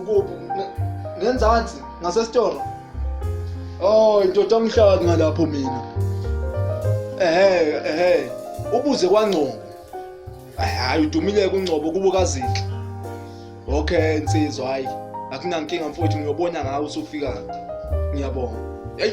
Ukuphi? Ngenzansi ngasesitoro. Oh, indoda ngihlala ngalapho mina. Ehhe, ehhe. Ubuze kwangcobo. Hayi udumile kungcobo kubo kazinhle. Okay, insizwa hayi. Akunankinga mfowethu ngiyobona ngawe usufika. Ngiyabonga. Hey.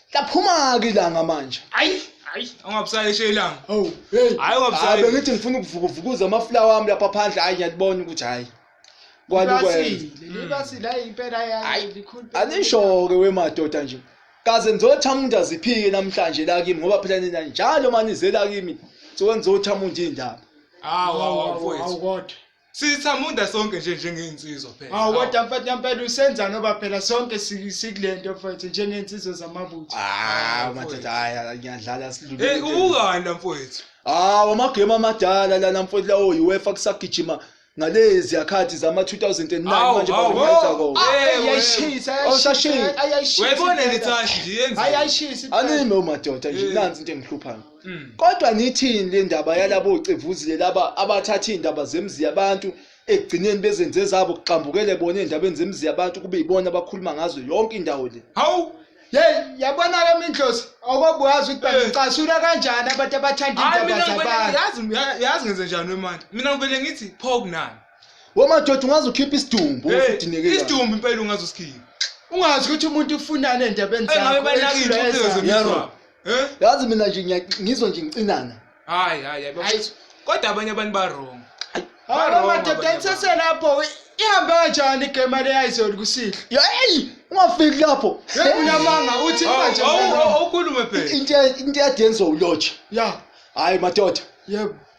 Laphuma-ke ilanga manje. Ayi, ayi, ungabusayishe ilanga. Hawu, hey. Hhayi Hayi ungabusayi. bengithi ngifuna ukuvukuvukuza amafulawa ami lapha phandle hayi ngiyalibona ukuthi hhayi. Kwani kwenza. Libasile, libasile hayi impela yayo Hayi, likhulu. Anisho-ke wemadoda nje. Kaze nizothamunda aziphike namhlanje la kimi ngoba phela nina njalo manizela kimi. Sokwenizothamunda iy'ndaba. Hawu, hawu, hawu, mfowethu. kodwa. sithamunda sonke nje njengey'nsizwa phela hawu kodwa mfethu yampela usenzani oba phela sonke si- sikule nto mfethu njengey'nsizwa zamabutho hawu madoda hayi ngiyadlala eyi silulile ubukani la mfowethu hawu amagemu amadala lana mfowethu lawo UEFA kusagijima ngalezi yakhathi zama-2009 Hawu, manje hawu, bawenza hawu. kona Ah, Eh, ayayishisa wena. Awusashisi. ayayishisa wayibona impela. nithashi nje yenzeni ayayishisa impela. anime umadoda nje Eh. nansi into engihluphayo Mm. kodwa nithini le ndaba yalabo cevuzile laba abathatha iy'ndaba zemzi yabantu ekugcineni bezenze zabo kuxambukele bona ey'ndabeni zemzi yabantu kube yibona abakhuluma ngazo yonke indawo le hawu yeyi yabona-ke mindlosi okobuyazi ukuthi Eh. bacasula kanjani abantu abathanda hayi iy'ndaba mina ngivele zabantu yazi ya- yazi ngenze njani wemani mina ngivele ngithi pho kunani womadoda ungaze ukhiphe isidumbu Hey, usudineke kabi. isidumbu impela ungazosikhipha ungazi ukuthi umuntu ufunani ey'ndabeni engabe zakho, banakile edlula ucezo ezakho. Yaro. Eh? yazi mina nje ngiya- ngizwa nje ngicinana Hayi hayi hayi. baba. Ayi. Kodwa abanye abantu ba wrong. Ba wrong madoda abanye abantu. niseselapho ihambe kanjani igame leyayizoli kusihle yeyi ungafiki lapho unamanga uthi Awu, manje awu, mfana. awu, Awukhulume phela. into ya- into yadenziwa ulotshe ya hayi madoda yebo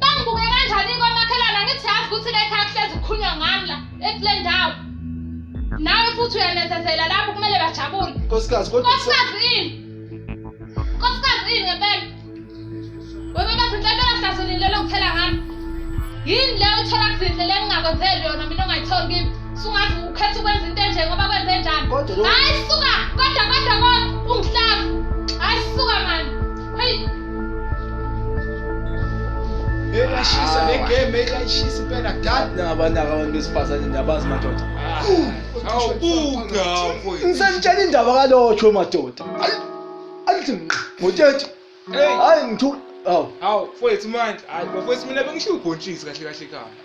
Bangibuke kanjani kwamakhelwane angithi yazi ukuthi le khaya kuhlezi kukhulunywa ngami la ekule ndawo. Nawe futhi uyanezezela lapho kumele bajabule. Nkosikazi kodwa Nkosikazi yini? Nkosikazi yini ngempela? Wena bathi inhlanhla hlaselile lokuthela ngami. Yini le uthola kuzinhle lengingakwenzeli yona mina ongayitholi kimi? Sungazi ukhetha ukwenza into enje ngoba kwenze njani? Kodwa lo- Hayi suka, kodwa kodwa kodwa ungihlaza. Eyashisa le game eyashisa impela dad. Nabantu abantu besifazane ndabazi madoda. Awubuka mfowethu. Ngisentshela indaba kalotho madoda. Alithi ngqa. Ngothethe. Hey. Hayi ngithu. Awu. Awu mfowethu manje. Hayi mfowethu mina bengisho ubhontshisi kahle kahle ekhaya.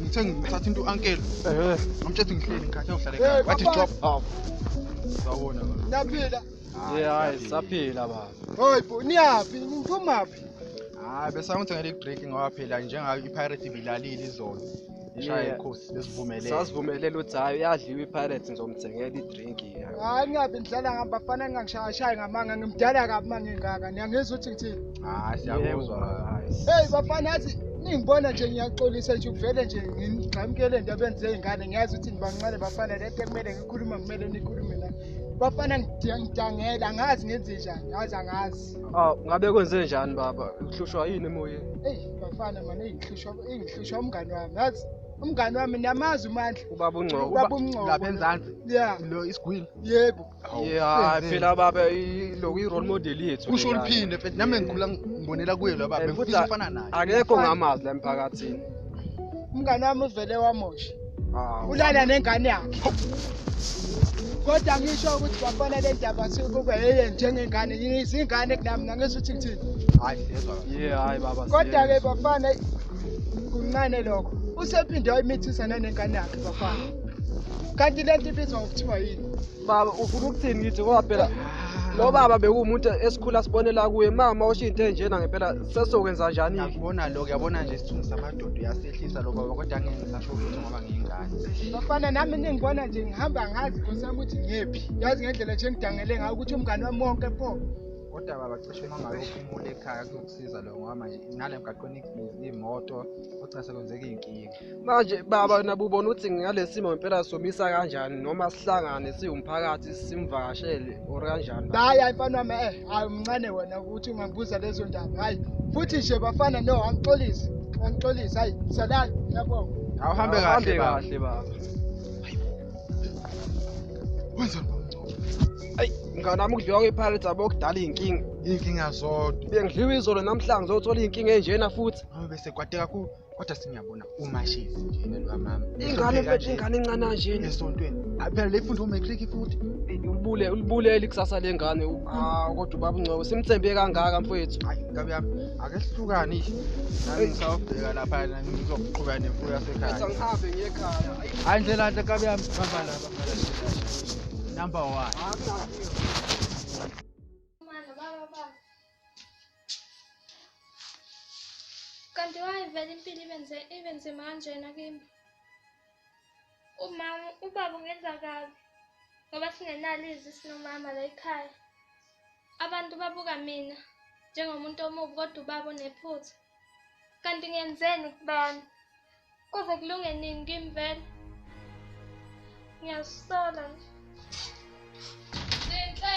ngithe ngithatha into uncle ngamtshela ngihleli ngikhathe uhlale ekhaya wathi stop half sawona naphila yeah hayi saphila baba hoy bo niyaphi niphumaphi hayi bese ngithi ngale break ngoba phela njengayo ipirate ibilalile izolo ishaya ikhosi besivumelele sasivumelele uthi hayi uyadliwa ipirates ngizomthengela drink hayi ngingabe ngidlala ngami bafana ngingangishayashayi ngamanga ngimdala kabi uma ngingaka niyangizwa ukuthi ngithini hayi siyakuzwa hey bafana yazi ningibona nje ngiyaxolisa nje uvele nje ngigxamukele into abenze iy'ngane ngiyazi ukuthi nibancane bafana le nto ekumele ngikhuluma kumele nikhulume la bafana ngidangela angazi ngenze njani yazi angazi aw ngabe kwenze njani baba uhlushwa yini emoyeni eyi bafana mane ingihlushwa ingihlushwa umngani wami yazi umngane wami niyamazi umandla ubaba ungcobo ubaba ungcobo lapha enzansi yeah lo isigwili yebo yeah phela baba lo i role model yethu kusho uliphinde mfethu nami ngikhula ngibonela kuye lo baba ngifisa ufana naye akekho ngamazi la emphakathini umngane wami uvele wamosha ah, ulala nengane yakhe kodwa ngisho ukuthi bafana le ndaba sikube yeye njengengane yini izingane kunami nangesuthi ngithini hayi yezwa yeah hayi baba kodwa ke bafana kuncane lokho usephinde wayimithisa nanengane yakhe bafana kanti le nto ibizwa ngokuthiwa yini baba ufuna ukuthini ngithi ngoba phela lo baba bekuwumuntu esikhula sibonela kuye mama usho into enjena ngempela sesokwenza njani yabona lo yabona nje isithunzi samadoda uyasehlisa lo baba kodwa ngeke ngisasho ukuthi ngoba ngiyingane bafana nami ningibona nje ngihamba ngazi nkosi yami ukuthi ngiyephi yazi ngendlela nje ngidangele ngayo ukuthi umngane wami wonke pho kodwa baba cishe uma ngabe uphumule ekhaya kuzokusiza lo ngoba manje nale mgaqweni imoto kugcina sekwenzeka iy'nkinga manje baba nabo ubona ukuthi ngalesi simo ngempela somisa kanjani noma sihlangane siwumphakathi simvakashele or kanjani hhayi hayi mfana wami eh hayi umncane wena ukuthi ungambuza lezo ndaba hhayi futhi nje bafana no angixolise angixolise hhayi salani yabonga awuhambe kahle kahle baba Wenzani bamncoko? Ayi, ngane nami ukudliwa kwePirates abo kudala inkinga. Inkinga zodwa. Bengidliwa izolo namhlanje zothola inkinga enjena futhi. Ngoba bese kwade kakhulu kodwa sengiyabona umashezi nje lo mama. Ingane mfethu ingane encane kanje esontweni. Phela lefunda umatric futhi. Ulibule ulibulele ikusasa lengane. Ah kodwa ubaba uNcoko simthembe kangaka mfethu. Hayi ngabe yami ake sihlukane. Ngisawubheka lapha ngizoqhubeka nemfuyo yasekhaya. Ngithi angihambe ngiye ekhaya. Hayi ndlela nhle kabi yami bamba laba. Number 1. Kanti wayivela impilo ibenze ibenze manjena kimi. Umama ubaba ungenza kabi ngoba singenalo izwi sinomama la ekhaya. Abantu babuka mina njengomuntu omubi kodwa ubaba unephutha. Kanti ngenzeni kubani? Kuze kulunge nini kimi vele? Ngiyazisola nje. Zinhle.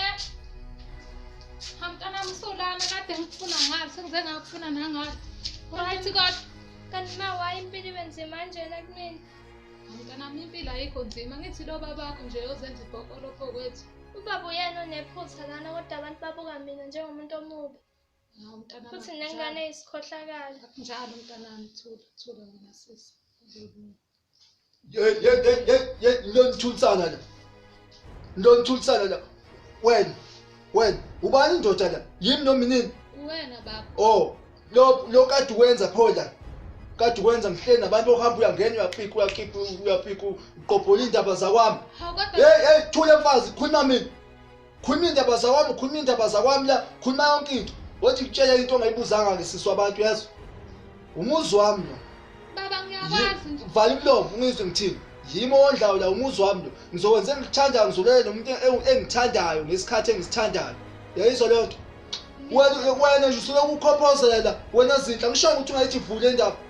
Hamtana msulana kade ngikufuna ngalo sengize ngakufuna nangalo. Right kodwa kanti ma waye impilo ibe nzima kanjena kumina. Hamtana impilo ayikho nzima ngithi lo babakho nje ozenza ibhokolo phokwethu. Ubaba uyena onephutha lana kodwa abantu babuka mina njengomuntu omubi. Hawu mntanami. Futhi akunjalo. nengane isikhohlakala. Akunjalo mntanami thula thula wena sisi. Uzolunga. Ye ye ye ye ye nonithulisana la. Nonithulisana la. Wena wena ubani indoda la? Yimi noma inini? Uwena baba. Oh, lo lo kade wenza pho la. Kade wenza ngihleli nabantu ohamba uyangena uyapika uyakipha uyapika uqophola indaba zakwami. Hawu kodwa Hey hey thula mfazi khuluma mina. khuluma iy'ndaba zakwami khuluma iy'ndaba zakwami la khuluma yonke into othi kutshela into ongayibuzanga-ke siswa abantu yazi umuzi wami lo baba ngiyakwazi nje vala umlomo ungizwe ngithini yimi owondlayo la umuzi wami lo ngizokwenza engikuthandayo ngizolele nomuntu engi- engithandayo ngesikhathi engisithandayo yayizwa leyo nto wena wena nje usuloku ukhophozela wena zinhle angishongo ukuthi ungayithi vule indaba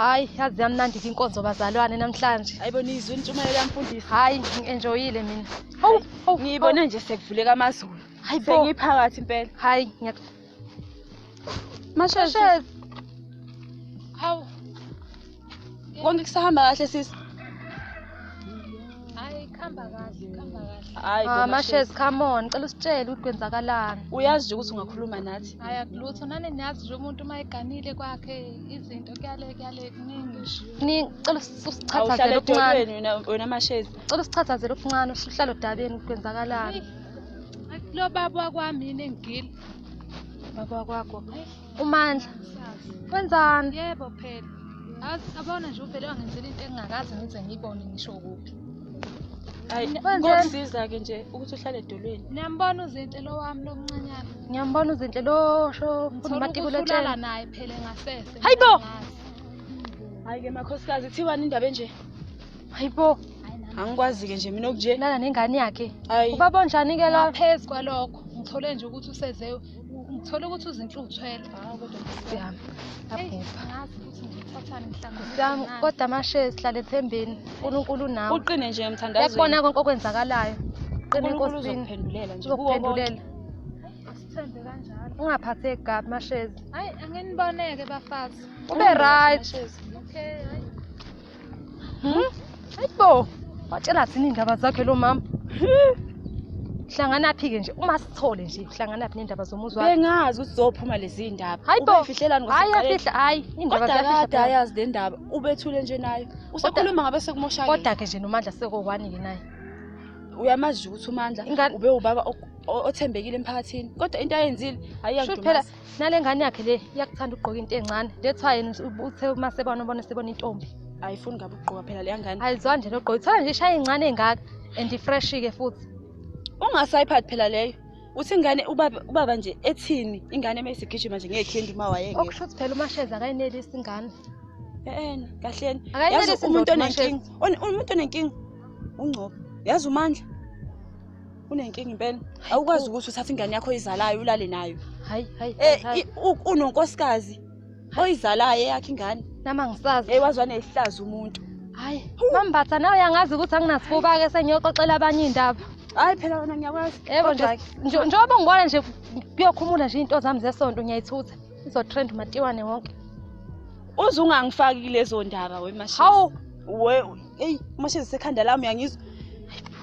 Hayi, yazi yamnandi ke inkonzo bazalwane namhlanje. Hayibo nizwe intshumayelo yamfundisi. Hayi, ngi-enjoyile mina. Hawu, hawu, Ngiyibone nje sekuvuleka amazulu. Hayi bo. Sengiphakathi impela. Hayi, ngiya Mashezi. Hawu. Konke kusahamba kahle sisi. Hayi khamba kahle, khamba kahle. Hayi Ah, kodwa Mashes, Shezi, come on. Cela usitshele ukuthi kwenzakalani. uyazi nje ukuthi ungakhuluma nathi. Hayi akulutho nani niyazi nje umuntu uma eganile kwakhe izinto kuyale kuyale kuningi nje. Ni cela usi- usichathazele Awuhlale okuncane. edolweni wena wena mashezi. Cela usichathazele okuncane usuhlalo dabeni ukuthi kwenzakalani. Lo baba wakwami yini engigile. Baba kwakho. Umandla. Wenzani? Yebo phela. Azi abona nje uvele wangenzela into engingakaze ngize ngiyibone ngisho kuphi. Hayi, Wenzeni? kokusiza ke nje ukuthi uhlale edolweni. Niyambona uzinhle lo wami lomncanyana. Ngiyambona uzinhle lo sho Ngithola umatikulo ukuthi ulala etshela. naye phela ngasese. Hayi bo! Ngiyazi. Hayi ke makhosikazi kuthiwani indaba enje? Hayibo, Angikwazi ke nje mina okunje. lala nengane yakhe. Hayi. Ubaba onjani ke lo? Ngaphezu kwalokho ngithole nje ukuthi useze ngithola ukuthi uzinhle uthwele siyami abhubha siyami kodwa amashe sihlale ethembeni unkulunkulu unawe uqine nje mthandazo yakubona konke okwenzakalayo qine enkosini uzokuphendulela sithembe kanjalo ungaphatheki kabi mashezi hayi anginiboneke bafazi ube right okay Hayibo, watshela thina iy'ndaba zakhe lo mama. Hlanganaphi-ke nje, uma sithole nje, hlanganaphi ney'ndaba zomuzi wakhe. bengazi ukuthi zophuma lezi ndaba Hayibo, Ubeyifihlelani hhayi ngoSekhaleni? yafihla, hhayi, iy'ndaba kodwa ziyafihla kade phela. ayazi le ndaba ubethule nje nayo usekhuluma ngabe sekumoshakele Kodwa-ke nje nomandla sekowani-ke naye. uyamazi nje ukuthi umandla Ingane- ube ubaba o- o- othembekile emphakathini kodwa into ayenzile Shuthi phela ayiyakudumaza nale ngane yakhe le iyakuthanda ukugqoka into encane that's why yena uthe uma sebona ubona sebona intombi ayifuni ngabe ukugqoka phela leya ngane ayizwa nje nogqoka ithola nje ishaya incane engaka and ifresh-ke futhi ungasayiphathi phela leyo uthi ingane ubaba ubaba nje ethini ingane uma isigijima nje ngekhendi uma wayeke okusho ukuthi phela umasheza akayinelisi ingane eena kahleni yazi umuntu onenkinga umuntu onenkinga ungcobo yazi umandla unenkinga impela awukwazi ukuthi uthathe ingane yakho oyizalayo ulale nayo hayi hayi eh unonkosikazi oyizalayo eyakhe ingane nama ngisazi hey wazwa nehlaza umuntu hayi mambatha nawe yangazi ukuthi anginasifuba ke sengiyoxoxela abanye indaba hayi phela wena ngiyakwazi yebo nje njengoba ngibona nje kuyokhumula nje into zami zesonto ngiyayithutha izotrend matiwane wonke uze ungangifaki lezo ndaba wemashisi hawu we eyi mashisi sekhanda lami uyangizwa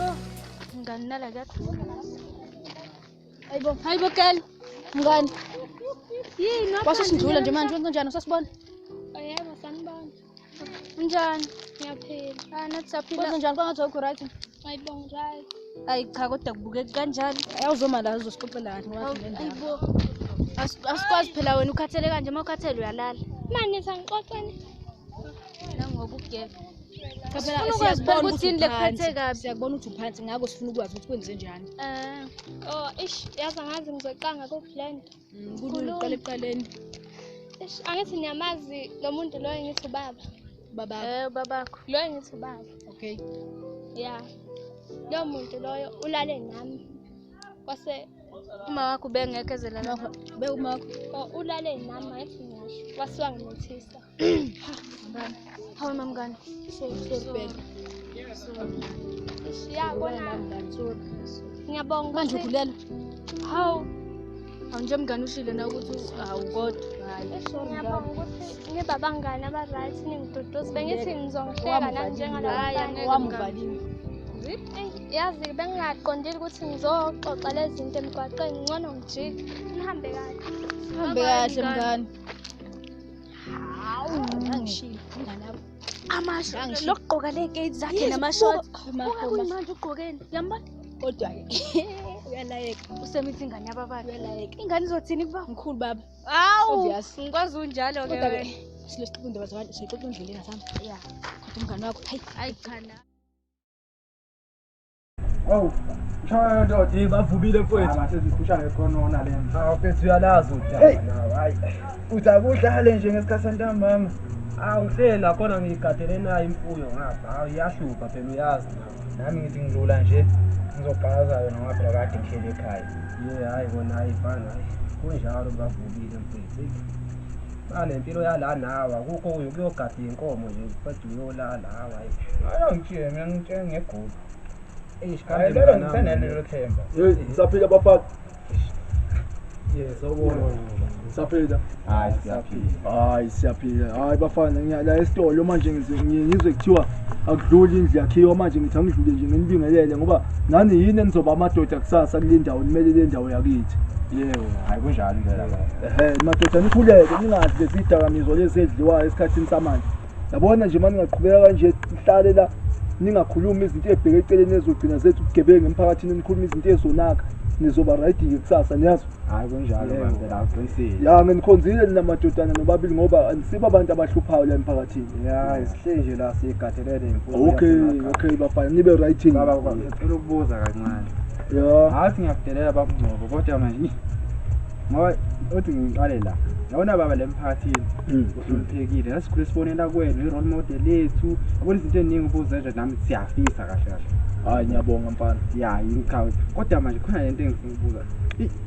Oh, mngani nala kuyakhuluma la. Hayibo, hayibo girl. Mngani. Yini wathi? Wasisindlula nje manje wenza njani usasibona? Oh, yebo sanibona. Unjani? Ngiyaphila. Ah, nathi saphila. Wenza njani kwangathi awukho right? Ayibonga right. Ayi cha kodwa kubukeka kanjani? Awuzoma la uzosixoxelani wathi le ndaba. Ayibo. As- Asikwazi phela wena ukhathele kanje uma ukhathele uyalala. Manje sangixoxeni. Nangoba ugebe. Sifuna ukwazi phela ukuthi yini lekuphethe kabi. Siyakubona ukuthi uphansi ngakho sifuna ukwazi ukuthi kwenze njani. Eh. Oh, ish, yazi angazi ngizoqanga ku blend. Mm, kulula uqala ekuqaleni. Ish, angithi niyamazi lo muntu loyo ngithi ubaba. Baba. Eh, babakho. Loyo ngithi ubaba. Okay. Yeah. Lo muntu loyo ulale nami. Kwase uma wakho bengekho ezelala. Be uma wakho. Oh, ulale nami ayithi ngisho. Wasiwa ngimethisa. Hawu mamngane. Siyabona. Ngiyabonga. Manje ukhulelwe. Hawu. Hawu nje mngane ushilo na ukuthi hawu kodwa. Ngiyabonga ukuthi nibabangane aba-right ningiduduzi bengithi ngizongihleka nanjengalaa wamuvalile yazi bengingaqondile ukuthi ngizoxoxa le zinto emgwaqeni ngcono ngijike nihambe kahle hambe kahle mngane lokugqoka ley'keti zakhe namashot manje ugqokeni yambona kodwa-ke uyalayeka usemithi ingane yabababa uyalayeka ingane izothini kuba mkhulu baba awu ngikwazi unjalo-ke silesiqoqa indaba zabantu siyixoxa endleleni asami ya kodwa umngane wakho hayi hayi cha Awu, mshaya ndoda. Hey bavubile mfowethu. Aba sezikhushana ekhonona lento. Awu mfethu uyalazi udaba nawe. Hayi. Uthi akudlale nje ngesikhathi santambama. Awu uhleli lakhona ngiyigadele nayo imfuyo ngapha. Awu iyahlupha phela uyazi nawe. Nami ngithi ngidlula nje ngizogqaza yona ngoba phela kade ngihleli ekhaya. Ye hayi kona hayi fana. Kunjalo bavubile mfowethu. anempilo yala nawe akukho uyokuyogada iy'nkomo nje uqeda uyolala hawu hayi ayangitshile mina ngitshele ngegulu eish kambe lelo mnganami. ngisenalelo themba Hey, ngisaphila bafana. Yes, awubona. Ngisaphila. Hayi siyaphila. Hayi siyaphila. Hayi bafana ngiya la esitolo manje ngize ngi- ngizwe kuthiwa akudluli indlu yakhiwa manje ngithi angidlule nje nginibingelele ngoba nani yini enizoba amadoda kusasa kule ndawo nimele le ndawo yakithi. Yebo, hayi kunjalo impela baba. Eh madoda nikhuleke ningadli lezi dakamizwa lezi edliwayo esikhathini samanje. Yabona nje manje ngaqhubeka kanje sihlale la ningakhulumi izinto ezibheke eceleni ezogcina zethu ugebengu emphakathini nikhuluma izinto ezonaka nizoba right ke kusasa niyazi. Hayi kunjalo manje la uqinisile. Ya ngenikhonzile nina madodana nobabili ngoba anisiba abantu abahluphayo la emphakathini. Ya isihleli nje la sigathelele imfundo. Okay okay bafana nibe right. Baba ngicela ukubuza kancane. Ya. Hathi ngiyakudelela babungcobo kodwa manje ngoba othi ngiqale la yabona baba le mphakathini mm. uhloniphekile nasikhule sibonela kwenu i-role model yethu yabona izinto eziningi ubuzenje nami siyafisa kahle kahle hayi ngiyabonga mfana ya yingichawe kodwa manje khona le nto engifuna ukubuza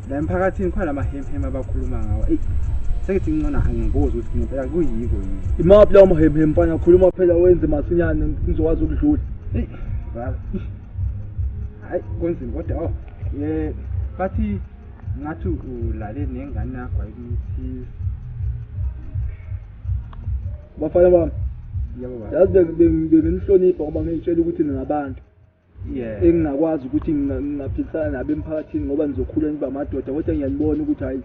la emphakathini khona la mahemheme abakhuluma ngawo eyi sengithi ngincona angibuzi ukuthi ngempela kuyiko yini imaphi lawo mahemheme mfana khuluma phela wenze masinyane ngizokwazi ukudlula eyi hayi kunzima kodwa o oh, ye bathi ngathi ulale nengane yakho ayikumsiza bafana bami yazi benginihlonipha ngoba ngiyitshela ukuthi ningabantu engingakwazi ukuthi ngingaphikisana nabo emphakathini ngoba nizokhula niba amadoda kodwa ngiyanibona ukuthi hhayi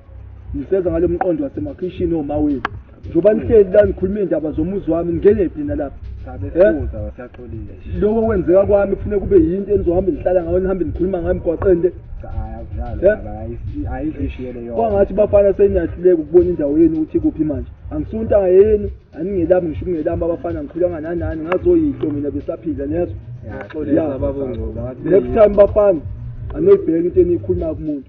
niseza ngalo mqondo wasemakhishini omawethu njengoba nihleli la nikhuluma iy'ndaba zomuzi wami ngingenephi nina lapha lokho kwenzeka kwami kufuneka kube yinto enizohambe nihlala ngayo nihambe nikhuluma ngayo emgwaqeni le kwangathi bafana seniyahluleka ukubona indawo yenu ukuthi kuphi manje angisuntanga yenu aningelami ngisho ukungelami abafana ngikhulanga nanani ngazoyihlo mina besaphila niyazwa next time bafana anoyibheka into eniyikhuluma kumuntu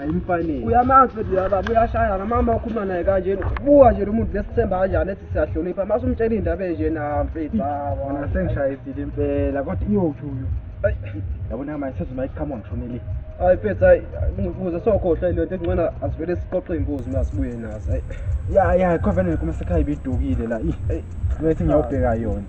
ayimfanele uyamazi futhi yaba buyashaya namama okhuluma naye kanjena buka nje lomuntu lesithemba kanjani ethi siyahlonipha mase umtshela indaba enje na mfethu hawa sengishayisile impela kodwa iyophi uyo yabona manje sezuma iqhamu ngishonele hayi mfethu hayi ngikuze sokhohlwa ilento engcona asivele siqoqe imbuzi mina sibuye nazo hayi ya ya khovene kuma sekhaya ibidukile la i ngathi ngiyawubheka yona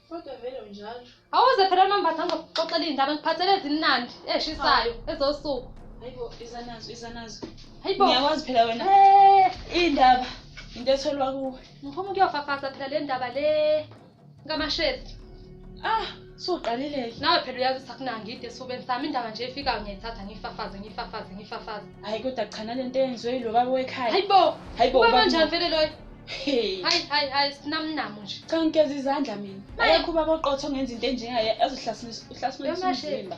Kodwa vele unjalo. Awuze phela unombatha ngizokuxoxela iy'ndaba ngiphathele ezimnandi ezishisayo ezosuku. Hayibo iza nazo iza nazo. Hayibo. Ngiyakwazi phela wena. Eh, Iy'ndaba into etholwa kuwe. ngiphuma ukuyofafaza phela le ndaba le ngamashezi. Ah suqalile-ke. Nawe phela uyazi ukuthi akunangidi esifubeni sami indaba nje efikayo ngiyayithatha ngiyifafaze ngiyifafaze ngiyifafaze. Hhayi kodwa cha nale nto eyenziwe yilo baba wekhaya. Hayibo. Hayibo Uba ubaba kanjani vele loyo? Hey. Hayi hayi hayi sinamnamo nje. Cha ngigeza izandla mina. Ayekho ubaba oqotho ongenza into enjengaye azohlasimisa uhlasimisa umzimba.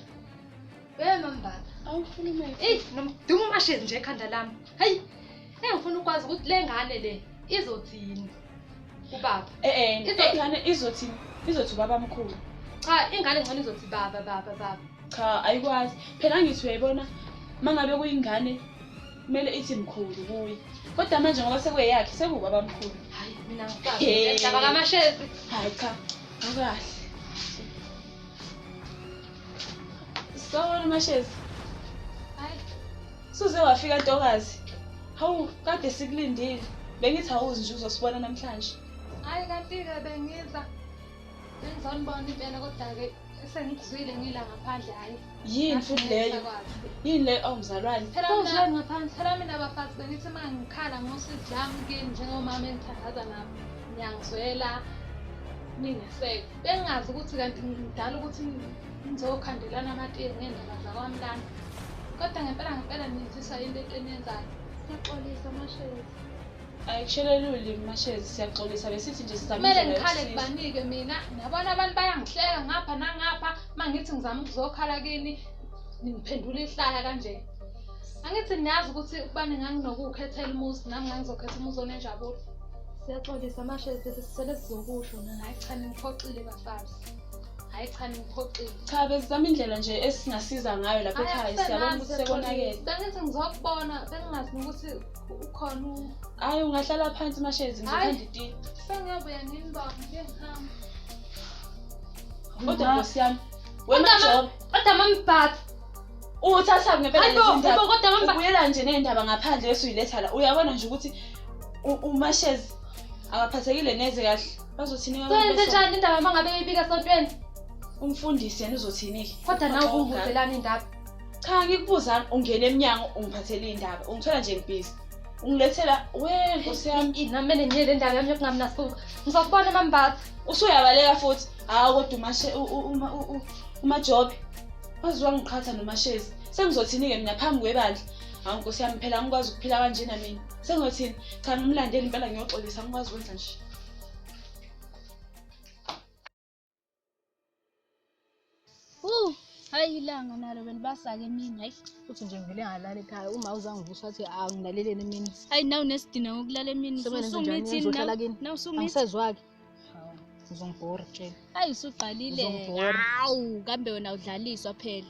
Hey mambaba. Awufuna imali. Ey nomdumo mashezi nje ekhanda lami. Hayi. Engifuna ukwazi ukuthi le ngane le izothini. Ubaba. Eh eh. Izongane izothini? Izothi ubaba mkhulu. Cha ingane ngcono izothi baba baba baba. Cha ayikwazi. Phela ngithi uyayibona mangabe kuyingane kumele ithi mkhulu kuye kodwa manje ngoba sekweyakhe sekubaba mkhulu hayi mina ngidaba kamashezi hayi cha akahle sawona mashezi hayi suze wafika ntokazi hawu kade sikulindile bengithi awuzi nje uzosibona namhlanje hayi kanti-ke bengiza bengizonibona impela kodwa-ke sengikuzwile ngila ngaphandle hhayi yini futhi leyo yini le ongizalwane oh, phela mina ngaphansi phela mina bafazi bengithi uma ngikhala ngosidlami kini njengomama engithandaza nami ngiyangizwela ningeseke bengingazi ukuthi kanti ngidala ukuthi ngizokhandelana amatiye ngendaba zakwami lana kodwa ngempela ngempela niyenzisa into ento eniyenzayo ngiyaxolisa mashezi ayikushele lulimi mashezi siyaxolisa besithi nje sizama kumele ngikhale kubanike mina nabona abantu bayangihleka ngapha nangapha uma ngithi ngizama ukuzokhala kini ningiphendula ihlaya kanje angithi niyazi ukuthi ukubani nganginokuwukhethela umuzi nami ngangizokhetha umuzi onenjabulo siyaxolisa mashezi sesisele sizokusho nina hayi cha ningiphoxile bafazi hayi cha ningiphoxile cha besizama indlela nje esingasiza ngayo lapha ekhaya siyabona ukuthi sekonakele bengithi ngizokubona bengingazi nokuthi ukhona u- Hayi ungahlala phansi mashezi Hayi. ngizothanda itiye. sengiyabuya nini baba ngike ngihambe Kodwa nkosi yami. Wena Kodwa ma- Job, kodwa mamibhapha uwuthatha ngempela Hayibo, lezi ndaba. hayibo, kodwa mama- Ubuyela nje nendaba ngaphandle bese uyiletha la. Uyabona nje ukuthi u- umashezi akaphathekile neze kahle. Bazothini abantu soyenze besonto? njani indaba mangabe uyibika esontweni Umfundisi yena uzothini-ke? kodwa nawe Uxoxa. kungibuzelani indaba cha ngikubuzani ungena emnyango ungiphathela iy'ndaba ungithola nje ngibhizi ungilethela we nkosi yami inamele ngiye le ndaba yami yokungabi nasuku ngizokubona mambatha usuyabaleka futhi hawu kodwa umashe umajobe waze wangiqhatha nomashezi sengizothini-ke mina phambi kwebandla hawu nkosi yami phela angikwazi ukuphila kanjena mina sengizothini cha ngimlandeli impela ngiyoxolisa angikwazi ukwenza nje Uh, hayi ilanga nalo belibasake emini hayi uthi nje ngivele ngalala ekhaya uma uzangivusa athi angilaleleni emini hayi nawu nesidina ngokulala emini usumithinhlala kini angisezwake uzongibhora tshela hayi usuqalile hawu kambe wena udlaliswa phela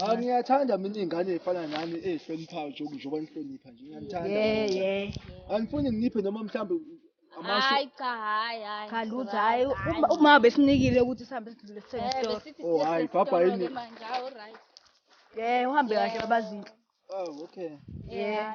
Ah ngiyathanda mina ingane efana nami ehloniphayo nje njengoba nihlonipha nje ngiyathanda. Yeah yeah. Angifuni nginiphe noma mhlambe amasho. Hayi cha hayi hayi. Cha lutho hayi uma- uma besinikile ukuthi sihambe sidlule sithenge Eh, isitolo. besithi Oh, siye hhayi, bhabha esitolo-ke yini? manje, ah, alright. Yeah uhambe kahle babazinhle. Oh okay. Yeah.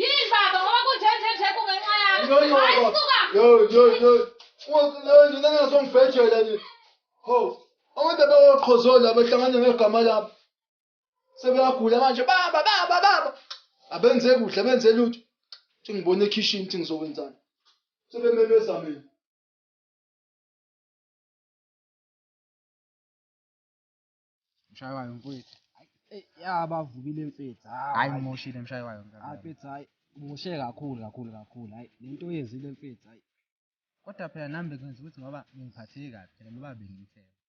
Yini baba ngoba kunje nje nje kungenxa yakho. Hayi suka. Yo yo yo. Uwakulayo nina ngasongifejela nje. Ho. Abantu abawoqhozola abahlangane ngegama labo. Sebeyagula manje baba baba baba. Abenze kuhle benze lutho. Thi ngibone ekhishini thi ngizokwenzani. Sebememeza mina. mshaywayo mfowethu eh, yabavubile mfethu hayi ngimoshile mshaywayo mfethu hayi ngimoshe kakhulu kakhulu kakhulu hayi le nto oyenzile mfethu hayi kodwa phela nami bekwenza ukuthi ngoba ngingiphatheki kabi phela ngoba bengimthemba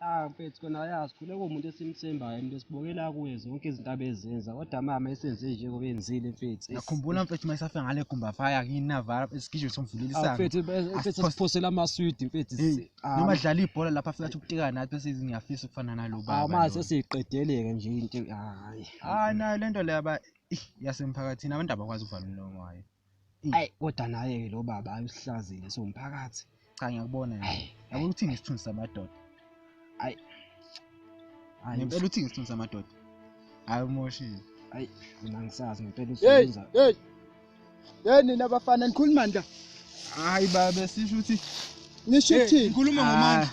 ah mfethu kona yazi khule kuwumuntu esimthembayo umuntu esibokela kuye zonke izinto abezenza kodwa mama esenze njengoba enzile mfethu ngakhumbula mfethu uma isafika ngale gumbafaya kini navala isigijimi somvulela ah, isango mfethu mfethu siphosela amaswidi mfethu Ah, noma dlala ibhola lapha afika athi ukutika nathi bese ithi ngiyafisa ukufana nalo baba ah, manje lona. sesiqedeleke nje into hayi hayi nayo lento le yaba ih, yasemphakathini abantu abakwazi ukuvala umlomo wayo ayi kodwa naye ke lo baba ayuhlazile somphakathi cha ngiyakubona nje Ayi, yabo uthini isithunzi samadoda Ayi, ngempela uthini isithunzi samadoda hayi umoshile ayi mina ngisazi ngempela Hey, usuza hey, Hey nina bafana nikhuluma nda. Hayi babe sisho ukuthi nisho ukuthini? Ngikhuluma ngomandla.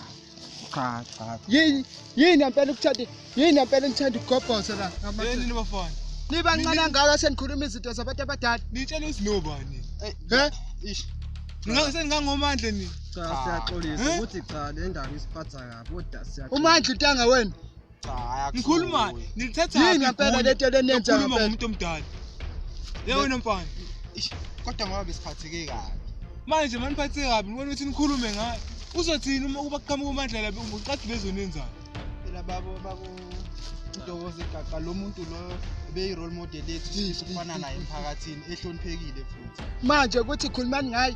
Ah, cha cha. Yini yini impela ukuthanda yini impela ngithanda ukugobhoza la. Hey nina bafana. Niba ncane ngaka senikhuluma izinto zabantu abadala. Nitshela uSnoba nini? Eh, he? Ish. Ngeke seningangomandla nini? Cha siyaxolisa ukuthi cha le ndaba isiphatha kabi kodwa siyaxolisa. Umandla intanga wena. Ngikhuluma nilithatha yini ngempela lento lenenza ngempela umuntu omdala. Yebo wena mfana. Kodwa ngoba besiphatheke kabi. Manje maniphathe kabi ngibona ukuthi nikhulume ngayo. Uzothini uma kuba kuqhamuka umandla labe uqadi bezonenzana. Phela babo babo udokoze gaqa lo muntu lo beyi role model yethu sifana naye emphakathini ehloniphekile futhi. Manje ukuthi khulumani ngayo.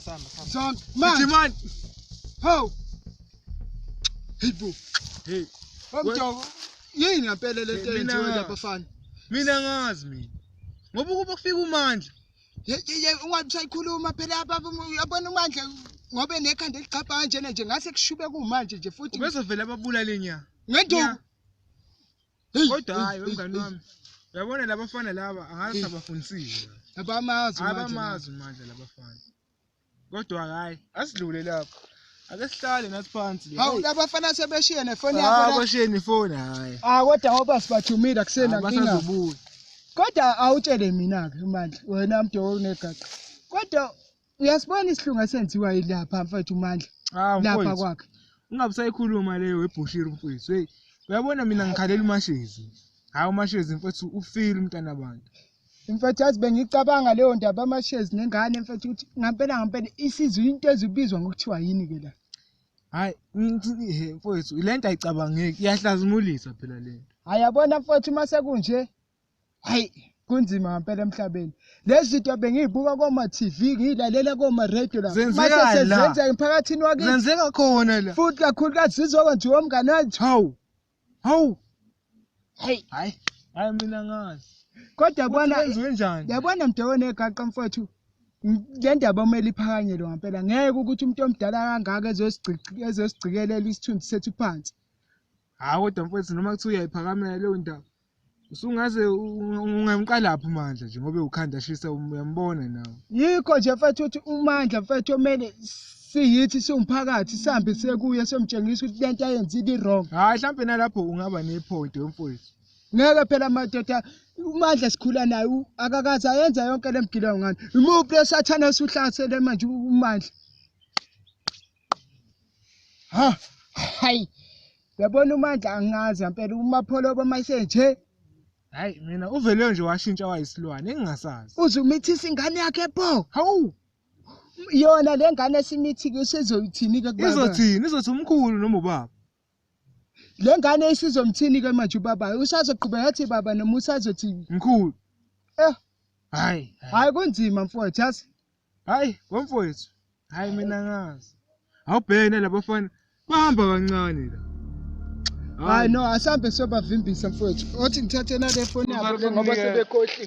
Samba, samba. Son, man. Iti man. How? Hey bro. Hey. Bamjoko. Yini ngempela le nto yenziwe lapha fana? Mina ngazi mina. Ngoba ukuba kufika umandla. Yeye ungathi usayikhuluma phela baba yabona umandla ngobe nekhanda eligcabha kanjena nje ngase kushube kumanje nje futhi. Ubezovela ababulale nya. Ngenduku. kodwa hayi wemngani wami uyabona labafana laba angazi abafundisile abamazi abamazi manje labafana kodwa hayi asidlule lapho ake sihlale nathi phansi hawu labafana sebeshiye nefoni yabo hayi bashiye nefoni hayi ah kodwa ngoba sibathumile akusena nkinga kodwa awutshele mina ke manje wena mdowo unegaqa kodwa uyasibona isihlungu esenziwa yilapha mfethu umandla ah, lapha kwakhe ungabe usayikhuluma leyo webhushiri mfethu heyi uyabona mina ngikhalela umashezi hhayi umashezi mfethu ufile umntana abantu mfethu yazi bengicabanga leyo ndaba amashezi nengane mfethu ukuthi ngampela ngampela isizwe into ezibizwa ngokuthiwa yini-ke la hhayi mfethu le nto ayicabangeki iyahlazimulisa phela le nto hhayi yabona mfethu uma sekunje hayi kunzima ngampela emhlabeni lezi zinto bengiyibuka koma-tv ngiyilalela koma-radio lamasesezenzeka emphakathini wakizenzeka khona la futhi kakhulukazi zizokwenziwa umngane wathi hawu hawu hayi hayi hayi mina ngazi kodwa bona yabona mntu onegaqa mfowethu le ndaba omele iphakanyelwe ngampela ngeke ukuthi umuntu omdala kangaka ezosigcikelela isithunzi sethu phansi Hayi kodwa mfowethu noma kuthiwa uyayiphakamela leyo ndaba. Usungaze ungamqalaphi uMandla nje ngoba ukhanda shisa um, uyambona nawe. Yikho nje mfethu ukuthi uMandla mfethu omele siyithi siwumphakathi sihambe sekuye somtshengisa ukuthi lento ayenzile i-wrong. Hayi mhlampe nalapho ungaba nepoint wemfowethu. Ngeke phela madoda uMandla sikhula naye u- akakaze ayenza yonke le mgilayo ngani. Imuphi lesathane osuhlasele manje uMandla? ha hayi yabona umandla angazi yampela umapholobo mayise nje hayi mina uvele nje washintsha wayisilwane engingasazi uze umithisa ingane yakhe pho hawu yona le ngane esimithike usezoyithini-ke kubaba izothini izothi umkhulu noma ubaba le ngane isizomthini-ke manje ubabayo usazoqhubeka athi baba noma usazothi mkhulu eh hayi hayi kunzima mfowethu yazi hayi ngomfowethu hayi mina ngazi awubhene labafana bahamba kancane la hayi no asambe sobavimbisa mfowethu othi ngithathe nale foni yabo le ngoba sebekhohliwe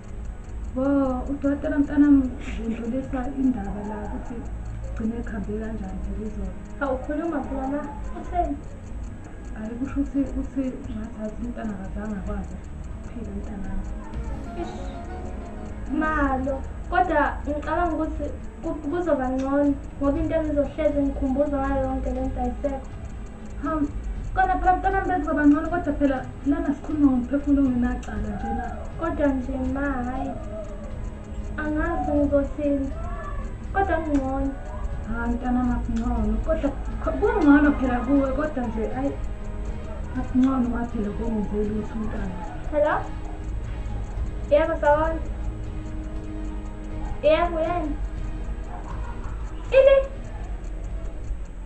Wo, udokotela mntanami udlulisa indaba la ukuthi gcine ekhambe kanjani phela izolo. Awukhuluma phela la, utheni? Hayi kusho ukuthi uthi ngathi azi umntana akazange akwazi ukuphila umntanami. Ish, Malo, kodwa ngicabanga ukuthi ku- kuzoba ngcono ngoba into engizohlezi ngikhumbuza ngayo yonke le nto ayisekho. kona phela mntwana mbenzi babangcono kodwa phela lana sikhuluma ngomphefumulo ongenacala nje na kodwa nje ma hhayi angazi ngizosini kodwa kungcono hhayi mntana makungcono kodwa kungcono phela kuwe kodwa nje ayi makungcono maphela kongenze lutho umntana hello yebo sawona yebo yena ini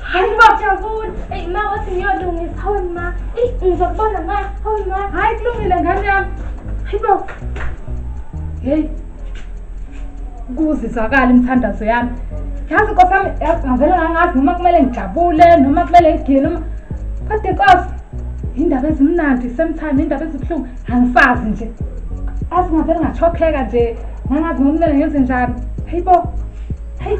Hayi ma jabule. Eyi ma wathi ngiyolungisa hawe ma. Eyi ngizokubona ma hawe ma. Hayi kulungile ngane yami. Hayi bo. Hey. Kuzizakala imithandazo yami. Yazi Nkosi yami ngavele ngangazi noma kumele ngijabule noma kumele ngigile noma kodwa Nkosi indaba ezimnandi same time indaba ezibuhlungu angisazi nje. Azi ngavele ngachokheka nje. Ngangazi noma kumele ngenze njani. Hayi bo. Hey,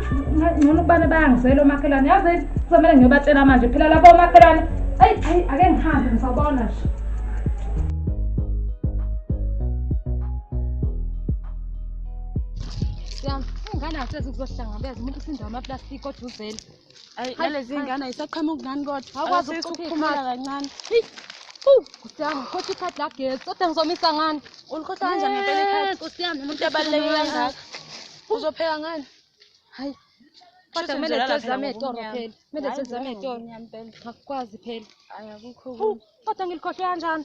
ngcono ukubana bayangisela omakhelwane. Yazi kuzomele ngiyobatshela manje phela labo omakhelwane. Hey, hey, ake ngihambe ngisabona nje. Siyam, ungana hlezi kuzohlangabeza umuntu usindawo amaplastiki oduzela. Ayi nalezi ngane ayisaqhamuki ngani kodwa. Awukwazi ukuphuma kancane. Kusiyami, khothi ikhadi lagesi. Kodwa ngizomisa ngani? Ulikhohla kanjani ngempela ikhadi? Kusiyami, umuntu abaluleke kangaka. Uzopheka ngani? Hayi. Kodwa kumele sizame etoro phela. Kumele sizame etoro. Ngakwazi phela. Ayakukho. Kodwa ngilikhohlwe kanjani?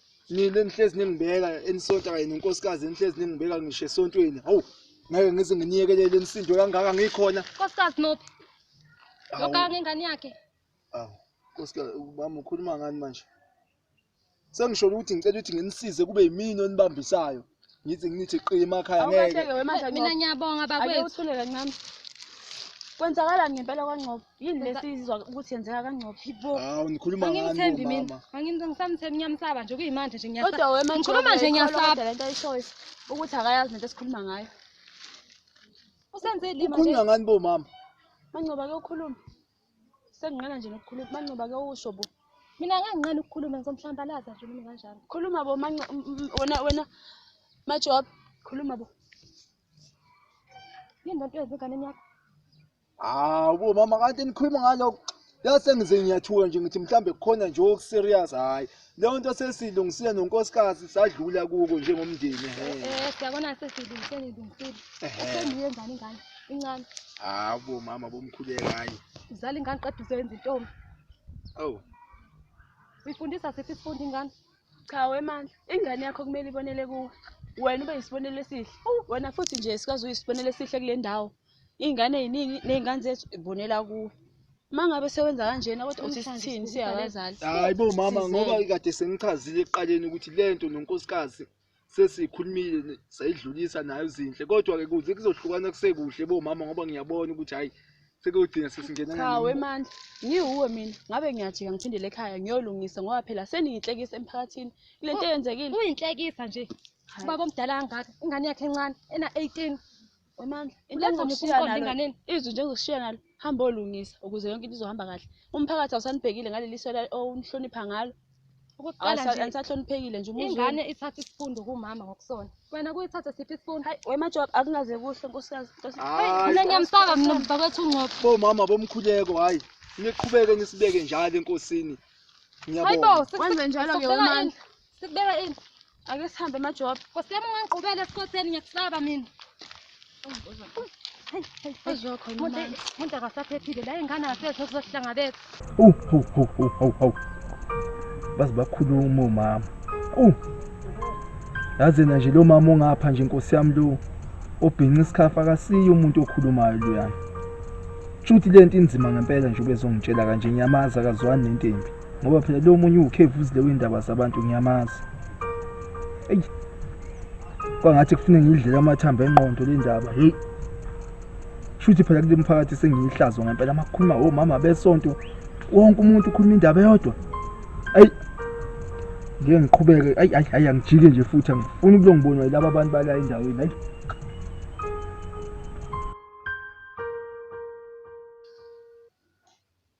nile nihlezi ningibeka enisonta kanye nenkosikazi enihlezi ningibeka ngisho esontweni hawu ngeke ngize nginiyekelele enisindo kangaka ngikhona nkosikazi nophi lokanga ngengane yakhe awu nkosikazi ubaba ukhuluma ngani manje sengisholo ukuthi ngicela ukuthi nginisize kube yimini onibambisayo ngithi ngithi qi emakhaya ngeke awukahleke wemanje mina ngcobo ngiyabonga ake bakwethu uthule kancane kwenzakalani ngempela kwangcobo yini Kwenza- lesizwa ukuthi yenzeka kangcobo yibo hawu nikhuluma ngani angimthembi mina bomama angimthembi ngisamthembi ngiyamsaba nje kuyimanje nje ngiyasaba kodwa wemanje Ngikhuluma nje ngiyasaba. le nto ayishoyo ukuthi akayazi nento esikhuluma ngayo usenze ilima nje ukhuluma ngani bomama mangcobo ake ukhulume Senginqena nje nokukhuluma. Manqoba ke usho bo. Mina ngeke nginqena ukukhuluma ngizomphlambalaza nje mina kanjalo. Khuluma bo manqoba wena wena majob khuluma bo. Yini lento yenze enganeni yakho? Hawu bo mama kanti nikhuluma ngalokho. Yase ngize ngiyathuka nje ngithi mhlambe kukhona nje okuserious hayi. leyo nto sesilungisile nonkosikazi sadlula kuko njengomndeni eh, eh siyabona sesilungisile ilungisile sengiye ngani ngani incane habo mama bomkhuleka hayi uzala ingane qeda uzoyenza intombi oh uyifundisa siphi isifundo ingane cha wemandla ingane yakho kumele ibonele kuwe wena ube yisibonelo esihle wena futhi nje sikwazi uyisibonelo esihle kule ndawo iy'ngane ey'ningi ney'ngane zethu ibonela kuwe uma ngabe sewenza kanjena kodwa uthi sithini siyabazali hayi bo mama ngoba kade sengichazile ekuqaleni ukuthi le nto nonkosikazi sesiyikhulumile sayidlulisa nayo zinhle kodwa-ke kuze kuzohlukana kusekuhle bo mama ngoba ngiyabona ukuthi hhayi sekuyogcina sesingena cha wemandla ngiwuwe mina ngabe ngiyajika ngiphindele ekhaya ngiyolungisa ngoba phela seniyinhlekisa emphakathini kule nto eyenzekile uyinhlekisa nje ubaba omdala kangaka ingane yakhe encane ena-eighteen Wemandla, into Uletha engifuna ukushaya ukuqonda nalo, enganeni. izwi nje engizokushiya nalo, hamba olungisa ukuze yonke into izohamba kahle. Umphakathi awusanibhekile ngaleli so la- owunihlonipha ngalo. Okokuqala Awusa- nje Anisahloniphekile nje umuzi ingane ithatha isifundo kumama ngokusona. Wena kuyithathe siphi isifundo? Hayi, wemajob akungaze kuhle nkosikazi. Nkosi- Hayi, Mina ngiyamsaba mina mzakwethu ungcobo. bomama bomkhuleko hhayi niqhubeke nisibeke njalo enkosini Hayibo, ngiyabonga Wenze njalo-ke wemandla. Sikubeka ini? Ake sihambe majob. Nkosi yami ungangigqubela esikhotheni ngiyakusaba mina. Umuntu akasaphephile la ingane asethe kuzohlangabeka. Hawu hawu hawu hawu hawu. Baze bakhuluma omama. Hawu. Yazi na nje lo mama ongapha nje Nkosi yami lo obhinqa isikhafa akasiyo umuntu okhulumayo lo yami. Shuthi lento inzima ngempela nje ubezongitshela kanje ngiyamazi akazwani nentembi. ngoba phela lo munye uwukhevu uzile windaba zabantu ngiyamazi eyi kwangathi kufune ngiyidlela amathambo enqondo le ndaba heyi shuthi phela kule mphakathi sengiyihlazo ngempela amakhuluma omama besonto wonke umuntu ukhuluma indaba eyodwa ayi ngeke ngiqhubeke ayi ayi ayi angijike nje futhi angifuni ukulo ngibonwa yilaba abantu bala endaweni ayi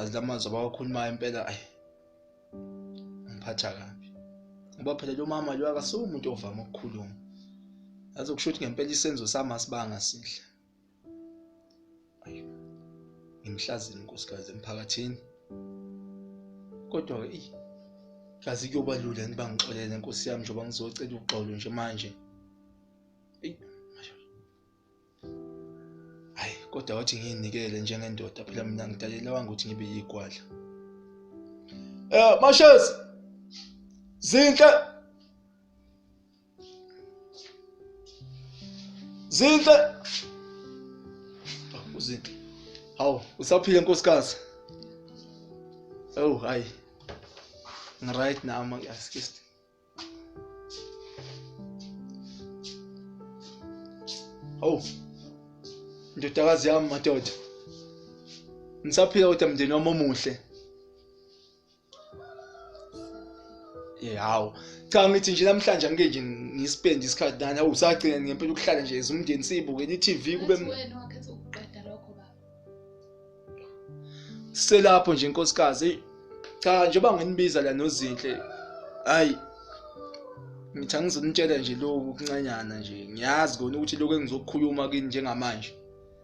azilamazwi abawakhulumayo impela ayi ngiphatha kabi ngoba phela lo mama lo akasuke umuntu ovama ukukhuluma yazi kusho ukuthi ngempela isenzo sami asibanga sihle ngimhlazile inkosikazi emphakathini kodwa-ke eyi kazi kuyoba lula yini bangixolele nkosi yami njengoba ngizocela uxolo nje manje eyi hayi kodwa wathi ngiyinikele njengendoda phela mina ngidalelewanga ukuthi ngibe yigwadla eh mashes zinhle zinhle oh, uzinhle hawu usaphile nkosikazi oh hayi ngiright nami askist Oh. Ndodakazi yami madoda. Ngisaphila kodwa mndeni wami omuhle. Yawo. Cha ngithi nje namhlanje angike nje ngisipende isikhathi nani awusagcina ngempela ukuhlala nje ezumndeni sibuke i-TV kube Ngathi wena wakhetha ukuqeda lokho baba. selapho nje inkosikazi cha njengoba nginibiza la nozinhle hayi ngithi angizonitshela nje lokhu kuncanyana nje ngiyazi kona ukuthi lokhu engizokukhuluma kini njengamanje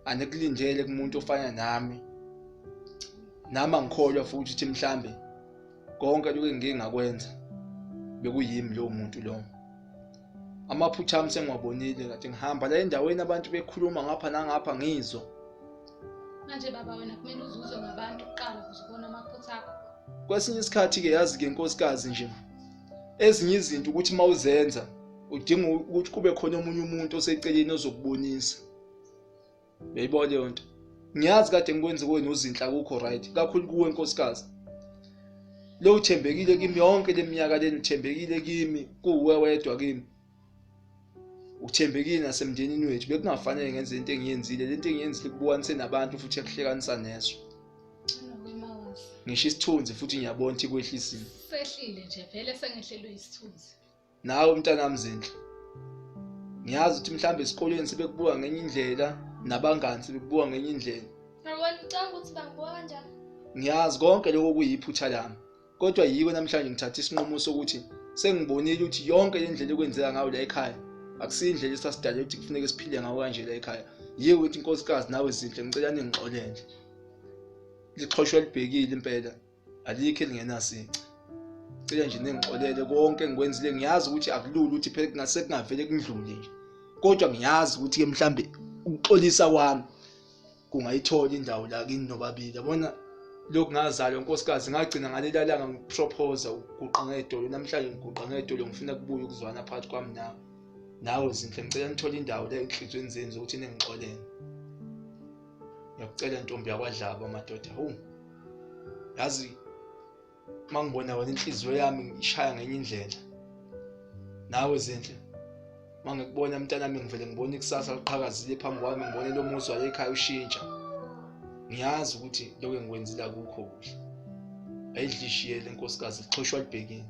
anikulindele kumuntu ofana nami nami angikholwa futhi ukuthi mhlambe konke lokhu engingakwenza bekuyimi lowo muntu lowo amaphutha ami sengiwabonile kade ngihamba la endaweni abantu bekhuluma ngapha nangapha ngizwa manje baba wena kumele uzuzwe ngabantu kuqala ukuze ubone amaphutha akho kwesinye isikhathi-ke yazi-ke nkosikazi nje ezinye izinto ukuthi uma uzenza udinga ukuthi kube khona omunye umuntu oseceleni ozokubonisa uyayibona leyo nto ngiyazi kade ngikwenze kuwe nozinhla kukho right kakhulu kuwe nkosikazi lo uthembekile kimi yonke leminyaka leni uthembekile kimi kuwe wedwa kimi uthembekile nasemndenini wethu bekungafanele ngenze into engiyenzile lento engiyenzile kubukanise nabantu futhi ekuhlekanisa neso ngisho isithunzi futhi ngiyabona ukuthi kwehlisiwe sehlile nje vele sengehlelwe isithunzi nawe mntanami zinhle ngiyazi ukuthi mhlawumbe esikoleni sebekubuka ngenye indlela nabangani sebekubuka ngenye indlela ngibona ucanga ukuthi bangibuka kanjani ngiyazi konke lokho kuyiphutha lami kodwa yiko namhlanje ngithatha isinqumo sokuthi sengibonile ukuthi yonke le ndlela ekwenzeka ngayo la ekhaya akusiyo indlela esasidale ukuthi kufuneke siphile ngawo kanje la ekhaya yiyo ukuthi inkosikazi nawe zinhle ngicela ningixolele lixhoshwa libhekile impela alikho elingenasici cela nje ningixolele konke engikwenzile ngiyazi ukuthi akulula ukuthi phela kungase kungavele kundlule nje kodwa ngiyazi ukuthi-ke mhlawumbe ukuxolisa kwami kungayithola indawo la kini nobabili yabona lokhu ngazalwa nkosikazi ngagcina ngaleli langa ngikupropoza ukuguqa ngedolo namhlanje ngiguqa ngedolo ngifuna kubuye ukuzwana phakathi kwami nawe nawe zinhle ngicela nithole indawo la ehlizweni zenu zokuthi ningixolele ngiyakucela ntombi yakwadlaba madoda hu yazi uma ngibona wena inhliziyo yami ishaya ngenye indlela nawe zinhle uma ngikubona mntanami ngivele ngibone ikusasa liqhakazile phambi kwami ngibone lo muzi wayekhaya ushintsha ngiyazi ukuthi lokho engikwenzile akukho kuhle ayidlishiye le nkosikazi lixhoshwa libhekile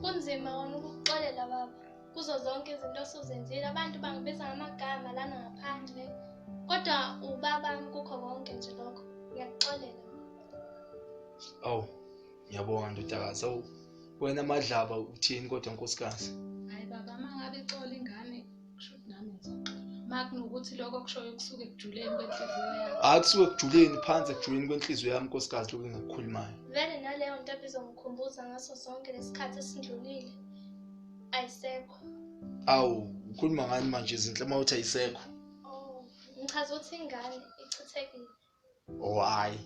Kunzima wona ukukuxolela baba kuzo zonke izinto osuzenzile abantu bangibiza ngamagama lana ngaphandle kodwa ubaba kukho konke nje lokho ngiyakuxolela awu ngiyabonga ndodakazi awu wena madlaba uthini kodwa nkosikazi makunokuthi lokho kushoyo kusuke ekujuleni kwenhliziyo yami hayi kusuke ekujuleni phansi ekujuleni kwenhliziyo yami nkosikazi lokhu engakukhulumayo vele naleyo nto ebizongikhumbuza ngaso sonke lesikhathi esindlulile ayisekho awu ukhuluma ngani manje izinhle uma uthi ayisekho oh ngichaza ukuthi ingane ichithekile oh hayi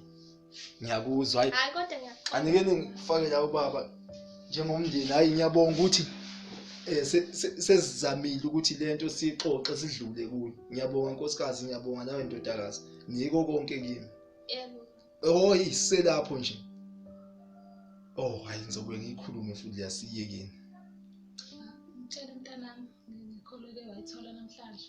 ngiyakuzwa hayi hayi kodwa ngiyaqonda anike ningifake la ubaba njengomndeni hayi ngiyabonga ukuthi eh sesizamile ukuthi lento sixoxe sidlule kuyo ngiyabonga nkosikazi ngiyabonga nawe ndodakazi niko konke kimi yebo oh iselapho nje oh hayi ngizobe ngikhulume futhi liyasiyekeni ngicela umntanami ngikholeke wayithola namhlanje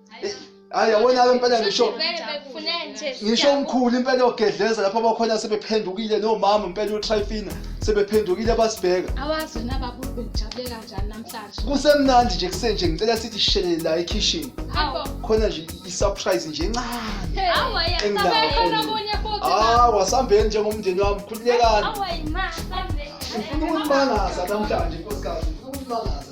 hayi yabona ke impela ngisho ngisho umkhulu impela ogedleza lapho abakhona sebephendukile nomama impela utrifina sebephendukile basibheka awazi wena baba ubejabule kanjani namhlanje kusemnandi nje kusenje ngicela sithi shele la ekitchen khona nje isurprise nje encane hawa yasabekhona kunye futhi hawa sambeni njengomndeni wami khululekani hawa yima sambeni ngifuna ukumangaza namhlanje nkosikazi ngifuna ukumangaza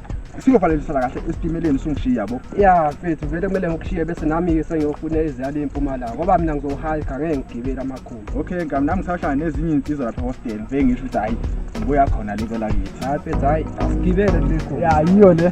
singofanelisa la kahle esitimeleni sungishiya yabo ya mfethu vele kumele ngikushiye bese nami-ke sengiyofuna eziyala impumalanga ngoba mina ngizohayika ngeke ngigibeli amakhulu okay ngam nami ngisashaya nezinye iy'nsizwa lapha hostel ngifike ngisho ukuthi hhayi ngibuya khona lika lakithi hhayi mfethu hhayi asigibele lekho ya yiyo le